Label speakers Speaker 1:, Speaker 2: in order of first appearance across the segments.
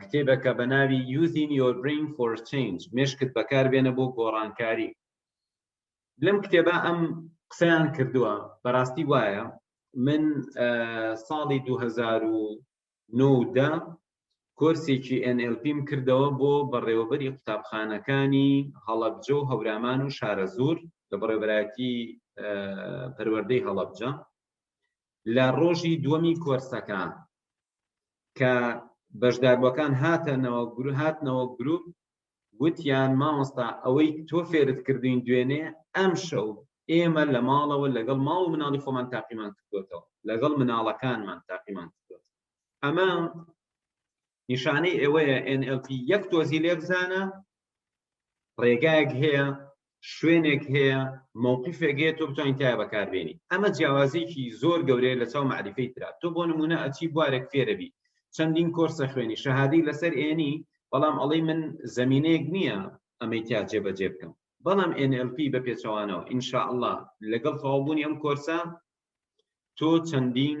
Speaker 1: کتێبەکە بە ناوی یوزین یۆر برین فۆر چنج مشکت بەکار بێنە بۆ گۆڕانکاری لەم کتێبە ئەم قسەیان کردووە بەڕاستی وایە من ساڵی 2009 کۆرسێکی NLPم کردەوە بۆ بەڕێوەبەری قوتابخانەکانی هەڵەبجە و هەورامان و شارەزور لە بەڕێبەرایەتی پەروەردەی هەڵەبجە لە ڕۆژی دووەمی کۆرسەکە کە بەشداربووەکان هاتەنەوە گروپ هاتنەوە گروپ وتیان مامۆستا ئەوەی تۆ فێرت کردین دوێنێ ئەم شەو ئێمە لە ماڵەوە لەگەڵ ماڵ و مناڵی خۆمان تاقیمان کردوێتەوە لەگەڵ مناڵەکانمان تاقیمان کردوێت ئەمە نیشانەی ئێوەیە NLP یەک تۆزی لێ بزانە ڕێگایەک هەیە شوێنێک هەیە مووقفێک هەیە تۆ بتوانین تای بەکاربێنی ئەمە جیاوازێکی زۆر گەورەیە لە چاو معریفەی تررا تۆ بۆ نمونە ئەچی بوارێک فێرەبی چەندین کۆرسە خوێنی شەهادی لەسەر ئێنی بەڵام ئەڵی من زمینەیەک نییە ئەمەی تیا جێبەجێ بکەم بەڵام NLP بە پێچەوانەوە ئینشاءله لەگەڵ تەوابوونی ئەم کۆرسە تۆ چەندین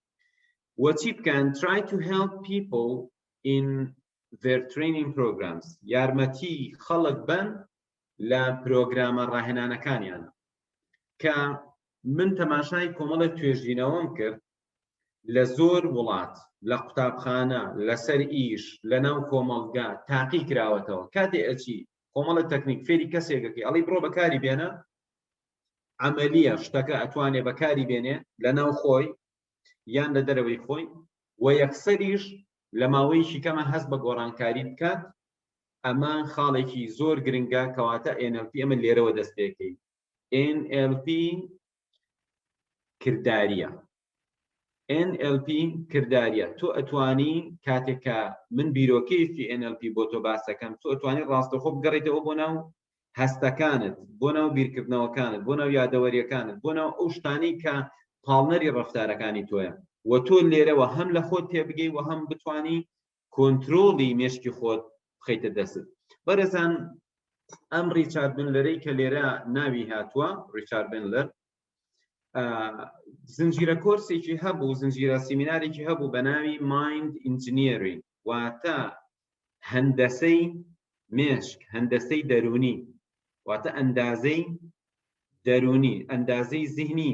Speaker 1: و چی بکەن try to help people in their training programs یارمەتی خەڵک بن لە پرۆگرامە ڕاهێنانەکانیان کە من تەماشای کۆمەڵێک توێژینەوەم کرد لە زۆر وڵات لە قوتابخانە لەسەر ئیش لە ناو کۆمەڵگا تاقی کراوەتەوە کاتێ ئەچی کۆمەڵە تەکنیک فێری کەسێکەکەی ئەڵی بڕۆ بەکاری بێنە عملیە شتەکە ئەتوانێ بەکاری بێنێ لە ناو خۆی یان لە دەرەوەی خۆی و یەکسەریش لە ماوەیەکی کەمە هەست بە گۆڕانکاری بکات ئەمە خاڵێکی زۆر گرنگە کەواتە NLP ئەمە لێرەوە دەست پێکەی NLP کردداریە ئێن ئێل پی کرداریە تۆ ئەتوانی کاتێک کە من بیرۆکەیەکی ئێن ئێل پی بۆ تۆ باسەکەم تۆ ئەتوانی ڕاستەخۆ بگەڕیتەوە بۆ ناو هەستەکانت بۆ ناو بیرکردنەوەکانت بۆ ناو یادەوەریەکانت بۆ ناو ئەو شتانی کە پاڵنەری ڕفتارەکانی تۆیە و تۆ لێرەوە هەم لە خۆت تێبگەی و هەم بتانی کۆنترۆڵی مێشکی خۆت بخەیتە دەستت بەرەزان ئەم ڕیچارد بنلەرەی کە لێرە ناوی هاتووە ڕیچارد بنلەر زنجیرە کۆرسێکی هەبوو زنجیرە سیمینارێکی هەبوو بە ناوی مایند ئینجنیری واتە هەندەسەی مێشک هەندەسەی دەرونی واتە ئەندازەی دەرونی ئەندازەی زیهنی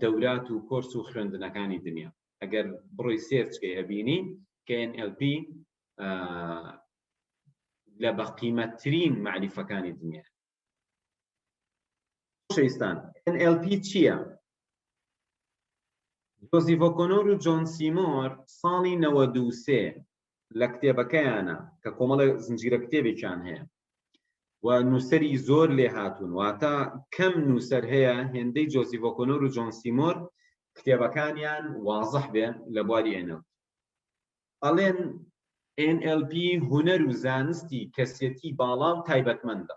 Speaker 1: دەورات و کۆرس و خوێندنەکانی دنیا ئەگەر بڕۆی سێرچکەی ئەبینی کە NLP لە بەقیمەتترین معریفەکانی دنیا شەیستان NLP چییە؟ جۆزیڤۆکۆنۆر و جۆن سیمۆر ساڵی 93 لە کتێبەکەیانە کە کۆمەڵە زنجیرە کتێبێکیان هەیە و نووسری زۆر لێ هاتوون واتە کەم نووسەر هەیە هێندەی جۆسی ڤۆکۆنۆر و جۆن سیمۆر کتێبەکانیان وازح بێ لە بواری ئێنە ئەڵێن NLP هوەر و زانستی کەسێتی باڵا و تایبەتمەندە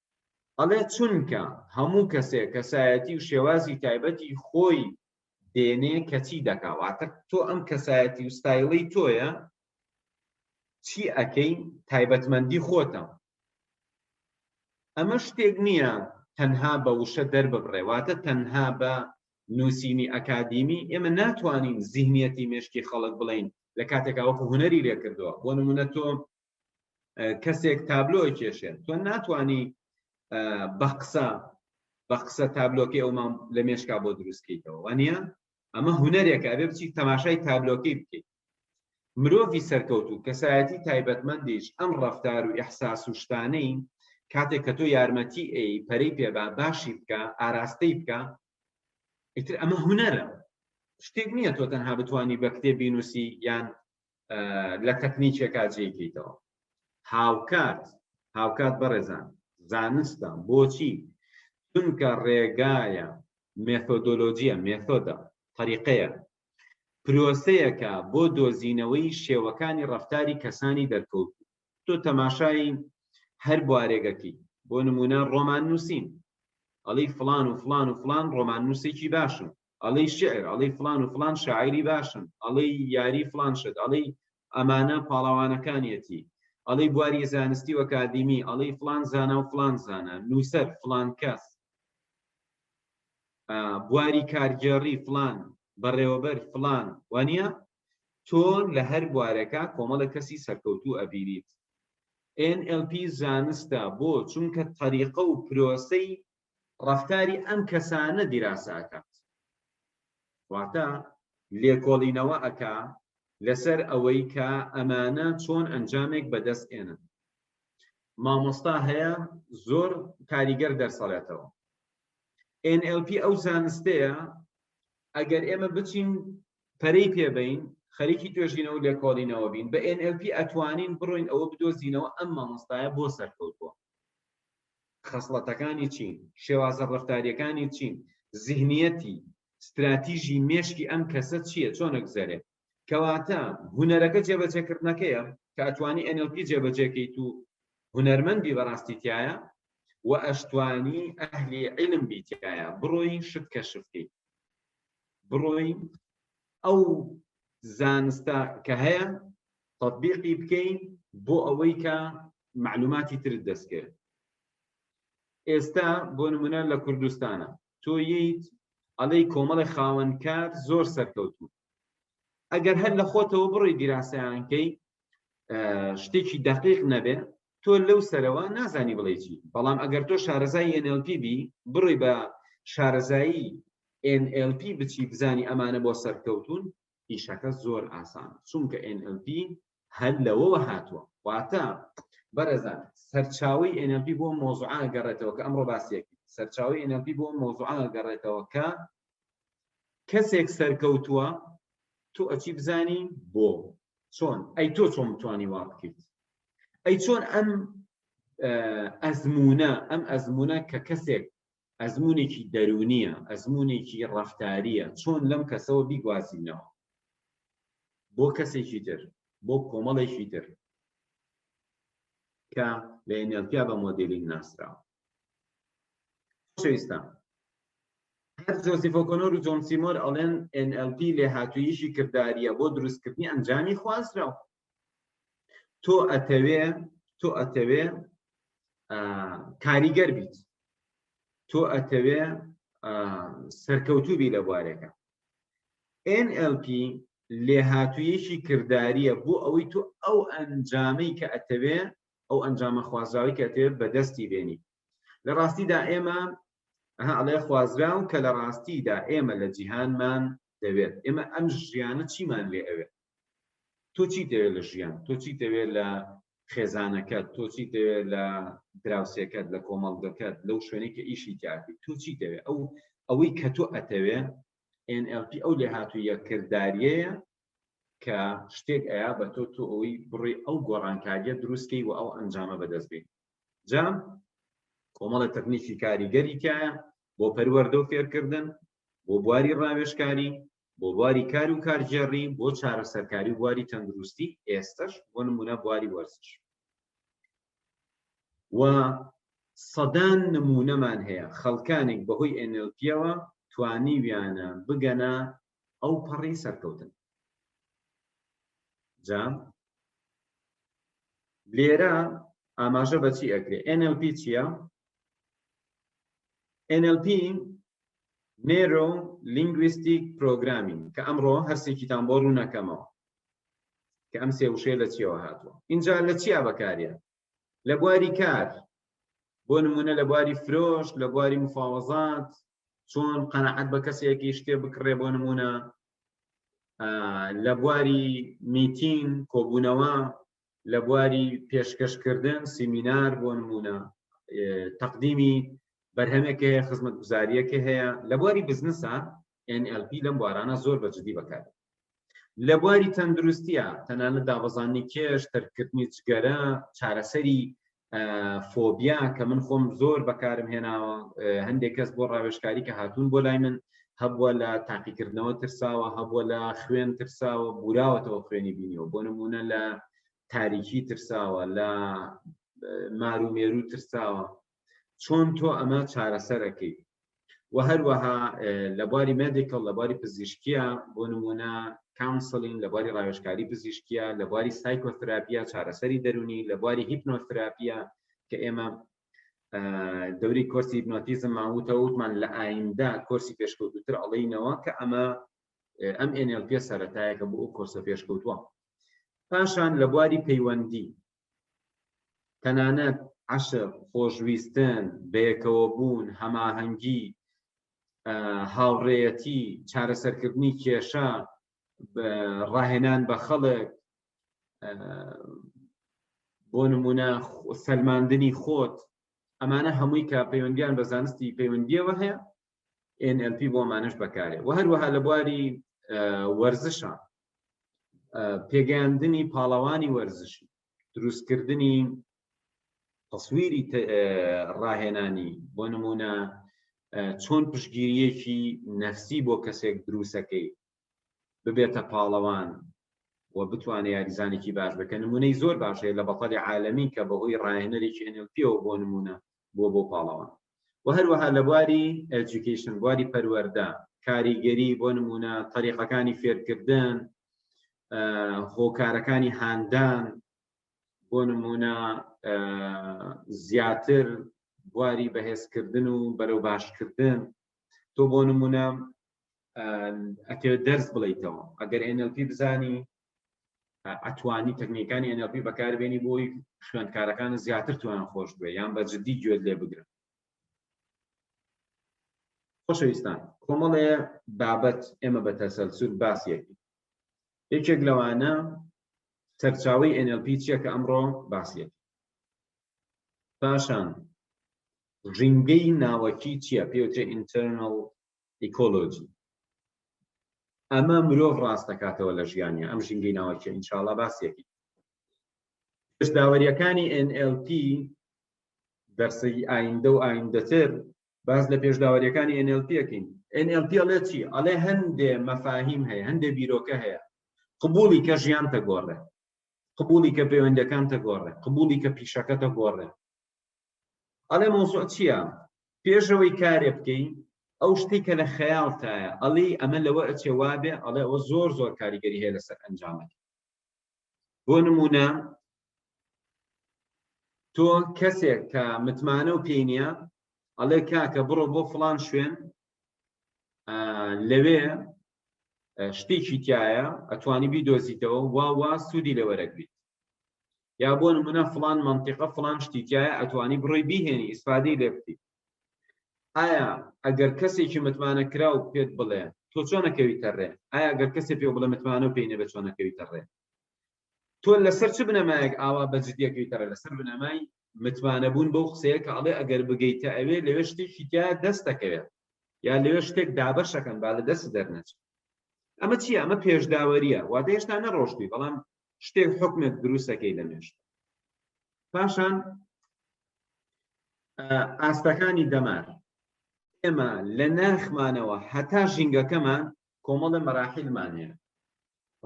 Speaker 1: ئەڵێ چونکە هەموو کەسێک کەسایەتی و شێوازی تایبەتی خۆی دێنێ کەچی دەکا واتە تۆ ئەم کەسایەتی و ستایڵی تۆیە چی ئەەکەی تایبەتمەندی خۆتە ئەمە شتێک نییە تەنها بە وشە دەرببڕێ واتە تەنها بە نووسینی ئەکادیمی ئێمە ناتوانین زیهنیەتی مشکی خەڵک بڵین لە کاتێکا وەکو هوەری لێکردووە بۆ نمونە تۆ کەسێک تابلۆ کێشێت تۆ ناتانی بە قسە بە قسە تابلۆکەی ئەومان لە مێشکا بۆ دروستکەیتەوە وانە ئەمە هوەرێکە بێ بچی تەماشای تابلۆکەی بکەیت مرۆڤی سەرکەوت و کەسایەتی تایبەتمەندیش ئەم ڕفتار و ئەحساس و شتانەی کاتێک کە تۆ یارمەتی ئەی پەرەی پێبا باشی بکە ئاراستەی بکە ئیتر ئەمە هوەرە شتێک نییە تۆ تەنها بتانی بە کتێبی نووسی یان لە تەکنیکێکا جێکەیتەوە هاوکات هاوکات بەڕێزان زانستە بۆچی چونکە ڕێگایە مێتۆدۆلۆجیە مێتۆدە طریقەیە پرۆسەیەکە بۆ دۆزینەوەی شێوەکانی ڕفتاری کەسانی دەرکەوت تۆ تەماشایی هەر بوارێگەکی بۆ نمونە ڕۆمان نووسین ئەڵی فلان و فلان و فلان ڕۆمان نووسێکی باشن ئەڵێی شیعر ئەڵێی فڵان و فڵان شاعیری باشن ئەڵێی یاری فڵان شت ئەڵێی ئەمانە پاڵەوانەکانیەتی ئەڵێی بواری زانستی و ئەکادیمی ئەڵێی فڵان زانا و فڵان زانا نووسەر فڵان کەس بواری کارگێڕی فلان بەڕێوەبەر فلان وانە تۆ لە هەر بوارەکە کۆمەڵە کەسی سەرکەوتو ئەبیریت NLP زانستە بۆ چونکە تەریقە و پرۆسەی ڕەفتاری ئەم کەسانە دیراسە ئەکات واتە لێکۆڵینەوە ئەکا لەسەر ئەوەی کە ئەمانە چۆن ئەنجامێک بەدەست ئێنن مامۆستا هەیە زۆر کاریگەر دەرسەڵێتەوە NLP ئەو زانستەیە ئەگەر ئێمە بچین پەرەی پێبین خەریکی توێژینەوە لێکۆڵینەوە بین بە NLP ئەتوانین بڕۆین ئەوە بدۆزینەوە ئەم مامۆستایە بۆ سەرکەوتووە خەسڵەتەکانی چین، شێوازە ڕەفتارییەکانی چین، زیهنییەتی، ستراتیژی مێشکی ئەم کەسە چییە، چۆن ئەگوزەرێ. کەواتە هونەرەکە جێبەجێکردنەکەیە کە ئەتوانی NLP جێبەجێکەیت و هونەرمەند بی بەڕاستی تیایا و ئەشتوانی ئەهلی عیلم بی تیایا بڕۆی شت کەشف کەی بڕۆی ئەو زانستە کە هەیە تەطبیقی بکەی بۆ ئەوەی کە معلوماتی ترت دەستکرد ئێستا بۆ نمونە لە کوردستانە تۆ ییت ئەڵی کۆمەڵی خاوەنکار زۆر سەرکەوتو ئەگەر هەر لە خۆتەوە بڕی دیراسەیانکەی شتێکی دەقیق نەبێ تۆ لەو سەرەوە نازانی بڵێ چی بەڵام ئەگەر تۆ شارەزای NLP بی بڕی بە شارەزایی NLP بچی بزانی ئەمانە بۆ سەرکەوتون ئیشەکە زۆر ئاسان چونکە NLP هەر لەوەوە هاتووە. واتە بەڕێزان سەرچاوەی ئێن ئێڵ پی بۆ ئەم مەوزوعە ئەگەڕێتەوە کە ئەمڕۆ باسییەک سەرچاوەی ئێن ئێڵ پی بۆ ئەم مەوزوعە ئەگەڕێتەوە کە کەسێک سەرکەوتووە تۆ ئەچی بزانی بۆ چۆن ئەی تۆ چۆن بتانی وا بکەیت ئەی چۆن ئەم ئەزمونە ئەم ئەزمونە کە کەسێک ئەزموونێکی دەروونییە، ئەزموونێکی ڕەفتارییە، چۆن لەم کەسەوە بیگوازینەوە بۆ کەسێکی تر، بۆ کۆمەڵێکی تر کە لە NLP بە مۆدێلینگ ناسراوە. خۆشەویستان، هەر جۆزیف ئۆکۆنۆر و جۆن سیمۆر ئەڵێن NLP لێهاتووییشی کردارییە بۆ دروستکردنی ئەنجامی خوازراو، تۆ ئەتەوێ تۆ ئەتەوێ کاریگەر بیت تۆ ئەتەوێ سەرکەوتوبی لە بوارەکە NLP لێهاتوویەکی کردداریە بۆ ئەوەی تۆ ئەو ئەنجامەی کە ئەتەوێ ئەو ئەنجامە خوازراوی کە ئەتەوێت بەدەستی بێنی لە ڕاستیدا ئێمە ئەڵێ خوازراون کە لە ڕاستیدا ئێمە لە جیهانمان دەوێت ئێمە ئەم ژیانە چیمان لێ ئەوێت تۆ چی دەوێت لە ژیان تۆ چی دەوێت لە خێزانەکەت تۆ چی دەوێت لە دراوسێکەت لە کۆمەڵگەکەت لەو شوێنی کە ئیشی تیاتی تۆ چی دەوێت ئەو ئەوەی کە تۆ ئەتەوێ NLP ئەو لێ هاتوو یەکردداریەیە کە شتێک ئەیا بە تۆ تۆ ئەوەی بڕی ئەو گۆڕانکاریە دروستکەی و ئەو ئەنجامە بەدەستبێت جام کۆمەڵە تەکنیکی کاریگەری تایە بۆ پەروەەردە و فێرکردن بۆ بواری ڕاوێژکاری، بۆ بواری کار و کارگێڕی، بۆ چارەسەرکاری و بواری تەندروستی، ئێستەش بۆ نموونە بواری وەرزش. و سەدان نموونەمان هەیە خەڵکانێک بەهۆی NLP ەوە توانیویانە بگەنە ئەو پەڕی سەرکەوتن. جا لێرە ئاماژە بە چی ئەکرێ؟ NLP چییە؟ NLP نێرۆ لینگویستیک پرۆگرامینگ کە ئەمڕۆ هەرسێکیتان بۆ ڕوونەکەمەوە کە ئەم سێ وشەیە لە چیەوە هاتووە ئینجا لە چیا بەکاریە لە بواری کار بۆ نمونە لە بواری فرۆش لە بواری مفاوەزات چۆن قەنەعەت بە کەسێکی شتێ بکڕێ بۆ نمونە لە بواری میتین کۆبوونەوە لە بواری پێشکەشکردن سیمینار بۆ نمونە تەقدیمی بەرهەمێک هەیە خزمەت گوزاریەکە هەیە لە بواری بزنسە NLP لەم بوارانە زۆر بە جدی بەکار لە بواری تەندروستیە تەنانە دابەزانانی کێش تەرکردنی جگەرە چارەسەری فۆبیا کە من خۆم زۆر بەکارم هێناوە هەندێک کەس بۆ ڕاوێشکاری کە هاتوون بۆ لای من هەبووە لە تاقیکردنەوە ترساوە هەبووە لە خوێن ترساوە بوراوەتەوە خوێنی بینیەوە بۆ نمونە لە تاریکی ترساوە لە مارومێرو ترساوە چۆن تۆ ئەمە چارەسەرەکەی و هەروەها لە بواری مێدیکڵ لە بواری پزیشکیە بۆ نمونە کاونسلین لە بواری ڕاوێژکاری پزیشکیە لە بواری سایکۆثراپیە چارەسەری دەرونی لە بواری هیپنۆثراپیە کە ئێمە دەوری کۆرسی هیپنۆتیزم ماوتە وتمان لە ئایندە کۆرسی پێشکەوتوتر ئەڵینەوە کە ئەمە ئەم NLP سەرەتایەکە بۆ ئەو کۆرسە پێشکەوتووە پاشان لە بواری پەیوەندی تەنانەت عەشق، خۆشویستن، بەیەکەوەبوون، هەماهەنگی، هاوڕێیەتی، چارەسەرکردنی کێشە، ڕاهێنان بە خەڵک، بۆ نمونە سەلماندنی خۆت، ئەمانە هەمووی کە پەیوەندیان بە زانستی پەیوەندیەوە هەیە NLP بۆ ئەمانەش بەکارێ و هەروەها لە بواری وەرزشە پێگەیاندنی پاڵەوانی وەرزشی دروستکردنی تەسویری ڕاهێنانی بۆ نمونە چۆن پشگیریەکی نەفسی بۆ کەسێک دروستەکەی ببێتە پاڵەوان و بتوانێت یاریزانێکی باش بکە نمونەی زۆر باشەیە لە بەپەلی عاالمی کە بەهۆی ڕاهێنەرێکی NLPەوە بۆ نمونە بووە بۆ پاڵەوان و هەروەها لە بواری Education بواری پەروەردە کاریگەری بۆ نمونە تەریقەکانی فێرکردن هۆکارەکانی هاندان بۆ نمونە زیاتر بواری بەهێزکردن و بەرەو باشکردن تۆ بۆ نمونە ئەتێ دەرس بڵیتەوە ئەگەر NLP بزانی ئەتوانی تەکنیکانی NLP بەکاربێنی بۆی خوێندکارەکان زیاتر توان خۆش بێ یان بە جددی گوێت لێ بگرن خۆشەویستان کۆمەڵێ بابەت ئێمە بە تەسەلسول باسیەکی یەکێک لەوانە سەرچاوی NLP چیە کە ئەمڕۆ باسیەت پاشان ژینگەی ناوەکی چیە پێوتێ internal ئیکۆلۆجی ئەمە مرۆڤ ڕاست دەکاتەوە لە ژیانە ئەم ژینگەی ناوەکیە ئینشاڵا باسیەکی پێش داوەریەکانی NLP دەرسەی ئایندە و ئایندەتر باز لە پێشداوەریەکانی NLPەکەین NLP ئەڵێ چی ئەڵێ هەندێ مەفاهیم هەیە هەندێ بیرۆکە هەیە قبولی کە ژیان تەگۆڕێ قبولی کە پەیوەندەکان تەگۆڕێ قبولی کە پیشەکە تەگۆڕێ ئەڵێ مەوزوع چیە پێشەوەی کارێ بکەی ئەو شتی کە لە خەیاڵتایە ئەڵی ئەمە لەوە ئەچێ وابێ ئەڵێ ئەوە زۆر زۆر کاریگەری هەیە لەسەر ئەنجامەکە بۆ نمونە تۆ کەسێک کە متمانە و پێی نییە ئەڵێ کاکە بڕۆ بۆ فلان شوێن لەوێ شتێکی تایە ئەتوانی بیدۆزیتەوە واوا سوودی لەوەرەگریت یا بۆ نمونە فڵان مەنتیقە فڵان شتی تیایە ئەتوانی بڕۆی بیهێنی ئیسفادەی لێ بکەی ئایا ئەگەر کەسێکی متمانە کراو پێت بڵێ تۆ چۆنەکەویتە ڕێ ئایا گەر کەسێ پێ بڵێ متمانە و پێینە بە چۆنەکەویتە ڕێ تۆ لەسەر چ بنەمایەک ئاوا بەجدیەکەویتە ڕێ لەسەر بنەمای متمانە بوون بەو قسەیە کە ئەڵێ ئەگەر بگەیتە ئەوێ لەوێ شتێکی تیا دەستەکەوێت یا لەوێ شتێک دابەشەکەن با لە دەست دەرنەچێت ئەمە چی ئەمە پێشداوەریە واتە هێشتا نەڕۆشتوی بەڵام شتێک حکمێک دروستەکەی لە مێشک پاشان ئاستەکانی دەمار ئێمە لە ناخمانەوە هەتا ژینگەکەمان کۆمەڵە مەراحیلمان هەیە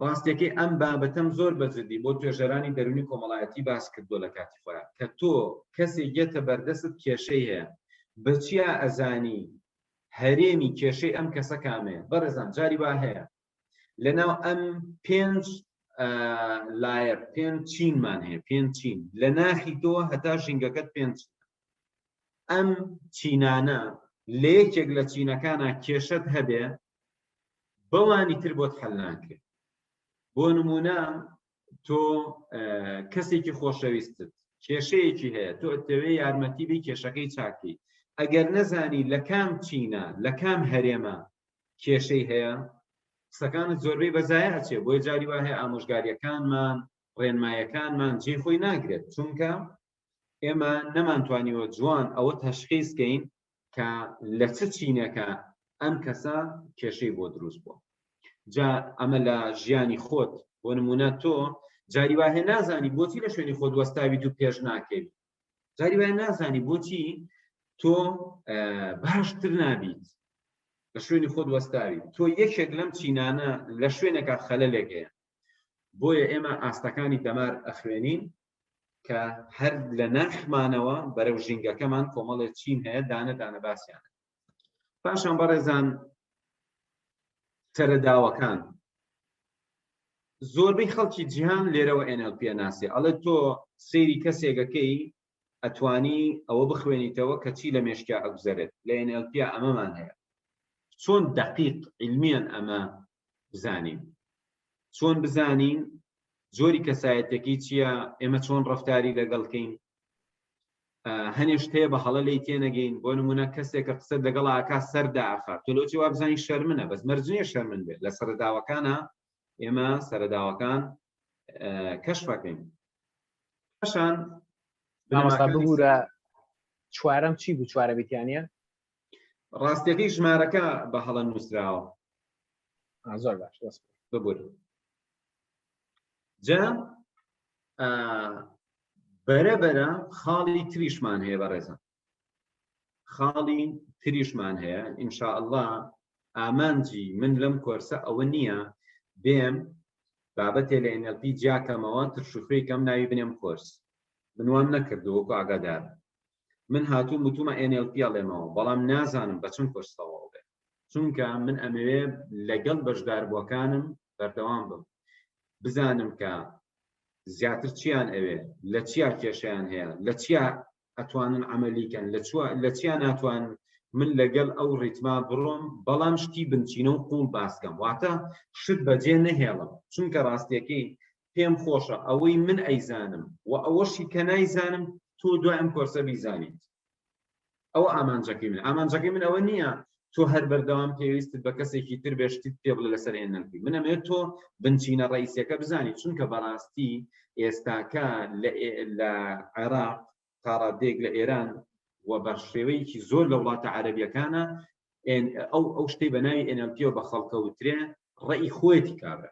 Speaker 1: ڕاستەکەی ئەم بابەتەم زۆر بەجددی بۆ توێژەرانی دەرونی کۆمەڵایەتی باس کردو لە کاتی خۆیان کە تۆ کەسێک یەتە بەردەست کێشەی هەیە بەچیا ئەزانی هەرێمی کێشەی ئەم کەسە کامەیە بەڕێزان جاری وا هەیە لەناو ئەم پێنج لایە پێنج چینمان هەیە پێنج چین لە ناخی تۆ هەتا ژینگەکەت پێنج ئەم چینانە لە یەکێک لە چینەکانە کێشت هەبێ بەوانی تر بۆت حەلناکرێت بۆ نمونە تۆ کەسێکی خۆشەویستت کێشەیەکی هەیە تۆ ئەتەوێ یارمەتی بی کێشەکەی چاکی ئەگەر نەزانی لە کام چینە لە کام هەرێمە کێشەی هەیە قسەکانت زۆربەی بەزایە ئەچێ بۆی جاری وایە ئامۆژگاریەکانمان ڕێنمایەکانمان جێ خۆی ناگرێت چونکە ئێمە نەمانتوانیوە جوان ئەوە تەشخیز کەین کە لە چ چینەکە ئەم کەسە کێشەی بۆ دروست بووە جا ئەمە لە ژیانی خۆت بۆ نمونە تۆ جاری واهێ نازانی بۆچی لە شوێنی خۆ دوەستاوی تو پێش ناکەوی جاری وای نازانی بۆچی تۆ باشتر نابیت لە شوێنی خۆت وەستاوی تۆ یەکێک لەم چینانە لە شوێنەکە خەلە لێگەیە بۆیە ئێمە ئاستەکانی دەمار ئەخوێنین کە هەر لە ناخمانەوە بەرەو ژینگەکەمان کۆمەڵێ چین هەیە دانە دانە باسییان پاشان بەڕێزان سەرەداوەکان زۆربەی خەڵکی جیهان لێرەوە ئێنەل پێ ناسێ ئەڵێ تۆ سەیری کەسێگەکەی ئەتوانی ئەوە بخوێنیتەوە کە چی لە مێشکیا ئەگوزەرێت لە NLP ئەمەمان هەیە چۆن دقیق علمیان ئەمە بزانین چۆن بزانین جۆری کەسایەتەکەی چییە ئێمە چۆن ڕفتاری لەگەڵکەین هەنێشت هەیە بە هەڵە لی تێنەگەین بۆ نمونە کەسێک کە قسە لەگەڵ ئاکا سەردا ئاخا تۆلۆجی وابزانین شەرمنە بەس مەرجنیە شەرمن بێت لە سەرداوەکانە ئێمە سەرداوەکان کەشفەکەین پاشان
Speaker 2: بگورە چوارم چی بوو چوارە بیتیانە
Speaker 1: ڕاستەکەی ژمارەکە بە هەڵە نووسراوە
Speaker 2: زۆر باش ببور
Speaker 1: جا بەرە بەرە خاڵی تریشمان هەیە بە ڕێزە خاڵی تریشمان هەیە ئینشاء الله ئامانجی من لەم کۆرسە ئەوە نییە بێم بابەتێ لە NLP جیاکەمەوە ترشوخوێکەم ناوی بنێم کۆرس بنوام نەکردووەکو ئاگادار من هاتووم وتومە NLP ئەڵێمەوە بەڵام نازانم بە چەند کۆرس تەواو بێ چونکە من ئەمەوێ لەگەڵ بەشداربووەکانم بەردەوام بم بزانم کە زیاتر چیان ئەوێ لە چیا کێشیان هەیە لە چیا ئەتوانن عملیکەن لە چیا ناتوان من لەگەڵ ئەو ڕیتما بڕۆم بەڵام شتی بنچینە و قوڵ باسکەم واتە شت بەجێ نەهێڵم چونکە ڕاستیەکەی پێم خۆشە ئەوەی من ئەیزانم و ئەوەشی کە نایزانم تۆ دوای ئەم کۆرسە بیزانیت ئەوە ئامانجەکەی من ئامانجەکەی من ئەوە نییە تۆ هەر بەردەوام پێویستت بە کەسێکی تر بێشتیت پێ بڵێ لەسەر هێنەکەی منەمێت تۆ بنچینە ڕئیسەکە بزانی چونکە بەڕاستی ئێستاکە لە عێراق تاڕادێک لە ئێران و بە شێوەیەکی زۆر لە وڵاتە عەربیەکانە ئەو ئەو شتەی بە ناوی ئەنەمپیۆ بە خەڵکەوترێ ڕێی خۆەتی کابرا